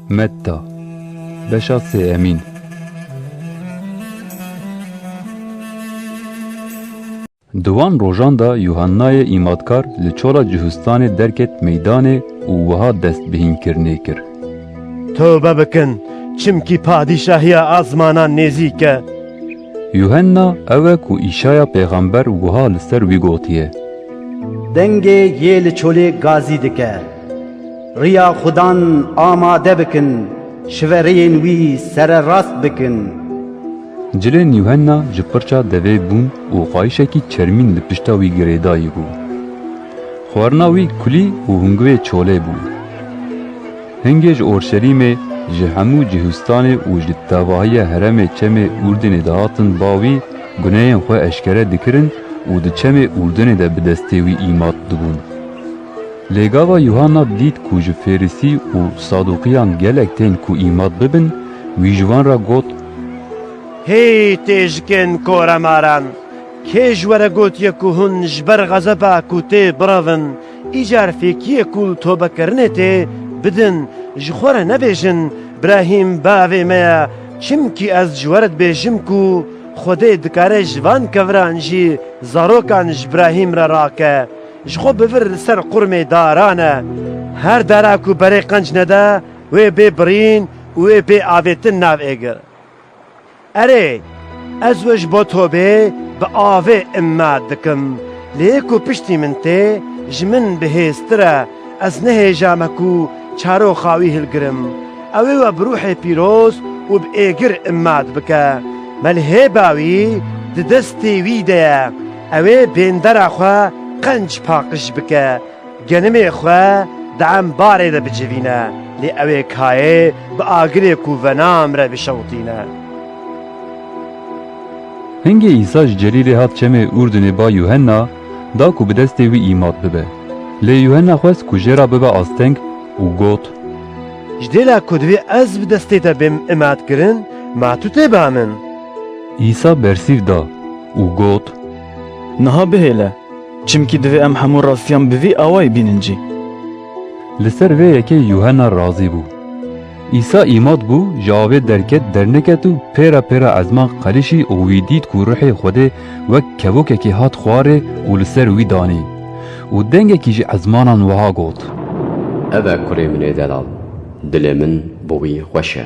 Metta, beşa sêemîn. Di wan rojan de Yuhannayê îmatkar li Çola Cihûstanê derket meydanê û wiha destbihînkirinê kir. Tewbe bikin, çimkî padîşahiya asmanan nêzîk e. Yuhanna ew e ku Îşaya pêxember wiha li ser wî gotiye. Dengê yê li Çolê gazî dike. Riya Xudan amade bikin, şivereyên wî sererast bikin. Cilên Yuhenna ji qirça devê bûn û qayişekî çermîn li pişta wî girêdayî bû. Xwarina wî kulî û hingurê çolê bû. Hingê ji Orşelîmê, ji hemû cihûstanê û ji tevahiya heremê çemê Urdinê dihatin ba wî, gunehên xwe eşkere dikirin û di çemê Urdinê de bi destê wî îmat dibûn. Lê gava Yuhanna dît ku ji Fêrisî û Saduqiyan gelek tên ku îmat bibin, wî ji wan re got, Hey têjikên koremaran! Kê ji we re gotiye ku hûn ji ber xezeba ku tê birevin, îcar fêkiyê ku li tobekirinê tê, bidin? Ji xwe re nebêjin, Brahîm bavê me ye, çimkî ez ji we re dibêjim ku Xwedê dikare ji van keviran jî zarokan ji Brahîm re rake. Ji xwe bivir li ser qurmê daran e. Her dara ku berê qenc nede wê bê birîn û wê bê avêtin nav êgir. Erê, ez we ji bo tobê bi avê îmma dikim. Lê yê ku piştî min tê, ji min bi hêztir e. Ez nehêja me ku çaroxa wî hilgirim. Ew ê we bi rûhê pîroz û bi êgir îmma dibike. Me li hêba wî di destê wî de ye. Ew ê bêndera xwe qenc paqij bike, genimê xwe di embarê de bicivîne, lê ew ê kayê bi agirê ku venam re bişewitîne. Hingê Îsa ji Celîlê hat çemê Urdinê ba Yuhenna da ku bi destê wî îmat bibe. Lê Yuhenna xwest ku jê re bibe asteng û got. Ji dêla ku divê ez bi destê te bêm îmatkirin, ma tu tê ba min. Îsa bersîv da û got. Niha bihêle, çimkî divê em hemû rastiyan bi vî awayî bînin cî. Li ser vê yekê Yuhena razî bû. Îsa îmat bû, ji avê derket derniket û pêra pêra ezman qelîşî û wî dît ku Ruhê Xwedê wek kevokekî hat xwarê û li ser wî danî. Û dengekî ji ezmanan wiha got. Ev e kurê min ê delal, dilê min bi wî xweş e.